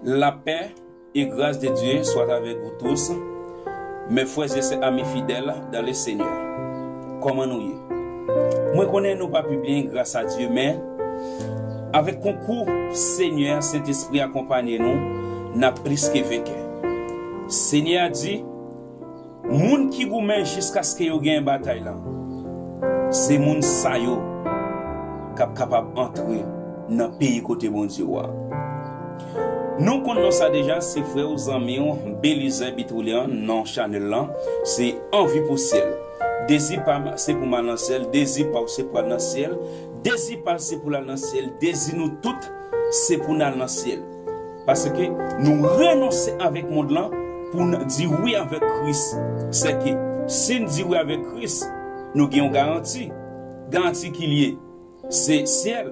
Lapè e gras de Dye swat avèk nou tous, mè frèz e sè ami fidèl dan le Senyè. Kòman nou ye? Mwen konnen nou pa pi byen gras a Dye men, avèk konkou Senyè a Sentespri akonpanye nou, n'ap plis ke venkè. Senyè a di. Moun ki goumen jiskaske yo genyen batay la, se moun sa yo k ap kapab antre nan peyi kote Bondye ou a. Nou konn non sa deja, se frè ou, zanmi ou, Belizè Bitrulyan, non chanèl lan se Anvi pou syèl. Dezi pa m se pou m al nan syèl, dezi pa w se pou al nan syèl, dezi pa l se pou l al nan syèl, dezi nou tout se pou n al nan syèl. Paske nou renonse avèk mond lan pou n di wi avèk Kris. Sèke, si n di wi avèk Kris, nou gen yon garanti. Garanti ki l ye? Se syèl.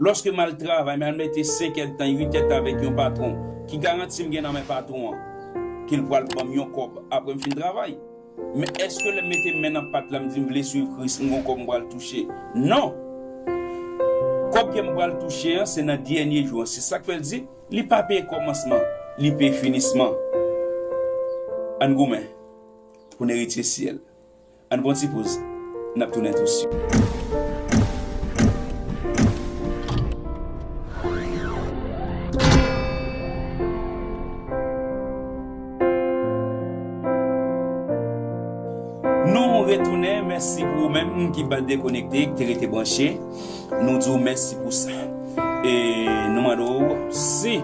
Lòske m al travay, m al mete senkèdtan, uitèdtan avèk yon patwon, ki garanti m gen nan men patwon an? Ke l pral ban m yon kòb apre m fin travay. Men èske lè m mete men nan pat la m di m vle suiv Kris m gon kòb m pral touche? Non! Kòb ke m pral touche an se nan dènye jou an. Se sa k fè l di, Li pa peye kòmansman, li peye finisman. Ann goumen pou n eritye syèl. Ann pran ti poz, n ap tounen tou suit. Nou retounen, mèsi pou ou menm ki pat dekonekte, ki te rete branche. Nou di w mèsi pou sa. E nou mande w si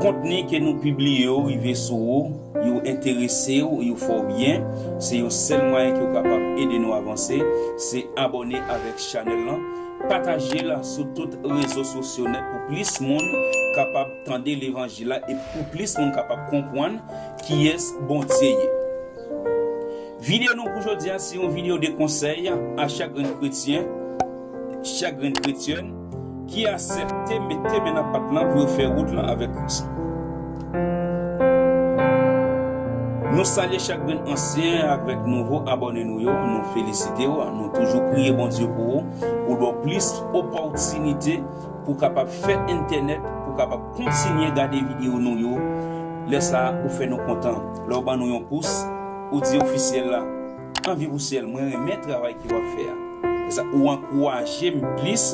kontni ke nou pibliye yo rive sou ou, yo enterese w, yo fè w byen, se yon sèl mwayen ke w kapab ede nou avanse, se abòne avèk chanèl lan, pataje l sou tout rezo sosyo nèt pou plis moun kapab Tande levanjil la epi pou plis moun kapab konpwann kiyès Bondye ye. Video nou pou jodi a se yon video de konsèy a chak grenn kretyen, chak grenn kretyèn ki asepte mete men nan pat lan pou yo fè wout lan avèk Kris. Nou salye chak grenn ansyen avèk nouvo abòne nou yo, nou felisitew, nou toujou priye Bondye pou ou, poul baw plis opòtinite. pou kapab fè entènèt pou kapab kontinye gade video nou yo lè sa ou fè nou kontan lè ou ban nou yon pous ou di ofisyèl la anvi pou syèl mwen renmen travay ke wap fè a lè sa ou ankourajem plis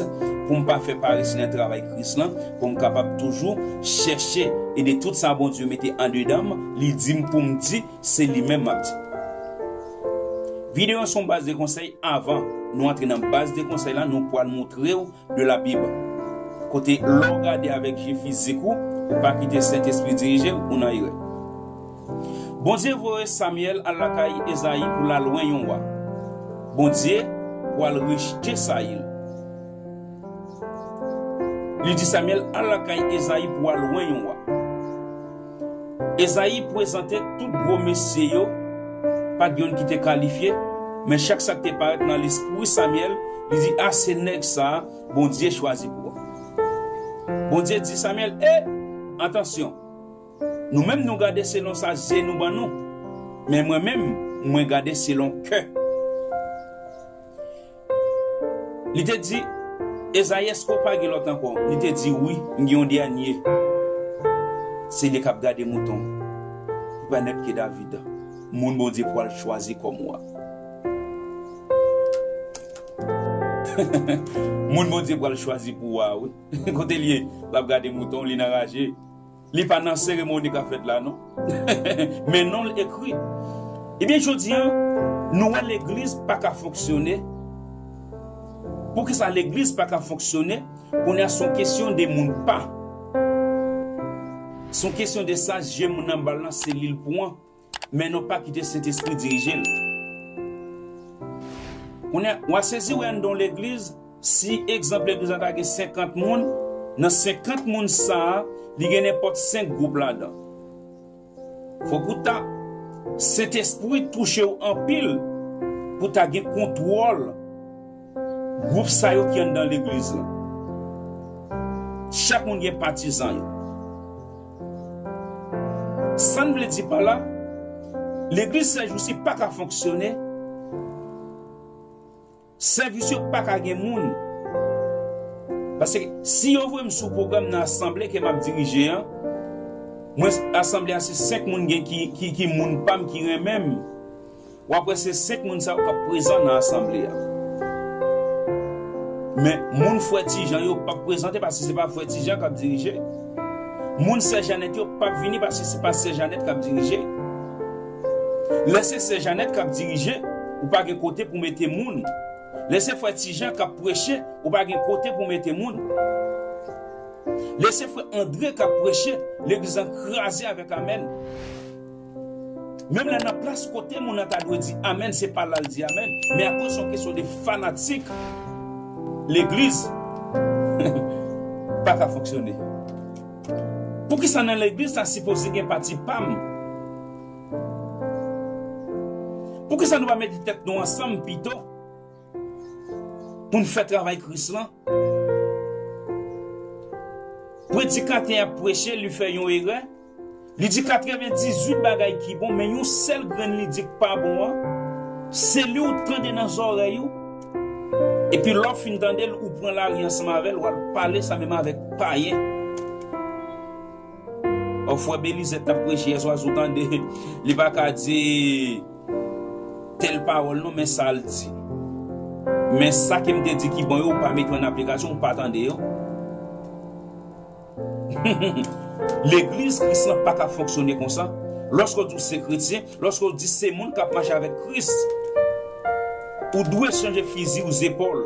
poum pa fè parese nan travay kris lan poum kapab toujou chèche ede tout sa Bondye mete andedanm li dim poum di se li menm map di video an son baz de konsèy avan nou antre nan baz de konsèy la nou pwal moutrew de la Bible kote lè w gade avèk je fizik ou, ou pa kite Sentespri dirije w, ou nan erè. Bondye voye Samyèl al lakay Ezayi pou l al wen yon wa. Bondye pral rejte Sayil. Li di Samyèl al lakay Ezayi pou w al wen yon wa. Ezayi pwezante tout gwo mesye yo, pa t' youn ki te kalifye, men chak sa k' te parèt nan lespwi Samyèl, li di, A se nèg sa a Bondye chwazi pou ou. Bondye di Samyèl, E! Atansyon! Nou menm nou gade selon sa zye nou ban nou, men mwen menm mwen gade selon kè. Li te di, Ezayi, èske ou pa gen lòt ankò? Li te di, Wi, m gen yon dènye. Se li k ap gade mouton ki pral nan pye David, moun Bondye pral chwazi kòm wa. Moun Bondye pral chwazi pou wa, wi. Kote l ye? L ap gade mouton, li nan raje. Li pa nan seremoni kap fèt la non. Men non l ekri. Ebyen jodi an nou wè legliz pa ka fonksyone. Poukisa legliz pa ka fonksyone kounye a son kesyon de moun pa. Son kesyon de sa je moun nan bal lan se li l pwan. Men nou pa kite sentespri dirije l. Kounye a, w a sezi wè anndan yon legliz, si egzanp legliz la ta gen senkant moun, nan senkant moun sa a, li gen nenpòt senk gwoup ladan. Fòk ou ta Sentespri touche w anpil pou ta gen kontwòl. Gwoup sa yo ki anndan legliz lan. Chak moun gen patizan yo. Sa n vle di pa la, legliz sèjousi pa ka fonksyone, sèvis yo pa ka gen moun. Paske si yo voye m sou pwogram nan asanble ke m ap dirije an, mwen asanble a se 5 moun gen ki moun pa m ki renmen m. w ap wè se senk moun sa yo k ap prezan nan asanble a. Men, moun Frè Ti Jan yo pap prezante paske se pa Frè Ti Jan k ap dirije. Moun Sè Janèt yo pap vini paske se pa Sè Janèt k ap dirije. Lè se Sè Janèt k ap dirije, ou pa gen kote pou mete moun. Lè se Frè Ti Jan k ap preche, ou pa gen kote pou mete moun. Lè se Frè Andre k ap preche, legliz lan kraze avèk amèn. Menm lè nan plas kote moun nan ta dwe di amèn se pa la l di amèn men akoz yon kesyon de fanatik legliz pa ka fonksyone. Poukisa nan legliz ta sipoze gen pati pa m? Poukisa nou pa mete tèt nou ansanm pito pou n fè travay Kris lan? Predikatè a preche li fè yon erè. Li di 98 bagay ki bon men yon sèl grenn li di k pa bon an, se li w tande nan zòrèy ou, epi lè w fin tande l ou pran lari ansanm avè l w al pale sa menm avèk payen. Ò frè Belizè t ap preche yè swa si w tande li pa ka di tèl pawòl non men sa l di, men sa ke m te di ki bon yo ou pa mete yo an aplikasyon ou pa tande yo. Legliz Kris lan pa ka fonksyone konsa. Lòske w di w se kretyen, lòske w di se moun k ap mache avèk Kris, ou dwe chanje fizi w zepòl.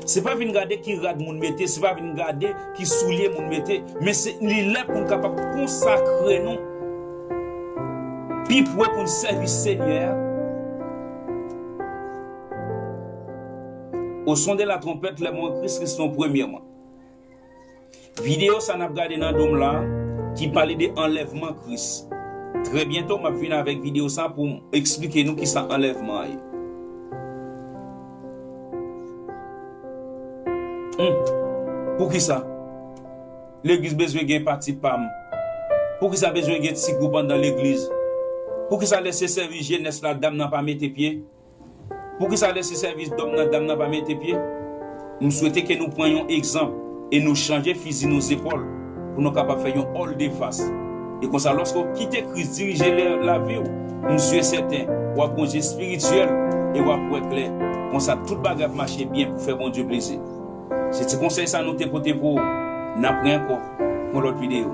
Se pa vin gade ki rad moun mete, se pa vin gade ki soulye moun mete, men se li lè pou n kapab konsakre nou pi pre pou n sèvi Senyè a. Au son de la trompette, les morts en Christ resteront premièrement. Video sa nap gade nan dom la ki pale de anlèvman Kris. Trè byento map vin avèk video sa poum eksplike nou kisa anlèvman ye. Humm poukisa legliz bezwen gen pati pam poukisa bezwen gen ti gwoup andan legliz poukisa lè se sèvis jenès la dam nan pa mete pye. Poukisa lè se sèvis dòm nan dam nan pa mete pye? M swete ke nou pran yon egzanp e nou chanje fizi nou zepòl pou nou kapab fè yon òldefas. E konsa lòske w kite Kris dirije lavi w, m si e sèten w ap gon je espirityèl e w ap wè klè. Konsa tout bagay ap mache byen pou fè Bondye plezi. Se ti konsèy sa nou te pote pou ou. N ap re ankò pou yon lòt videyo.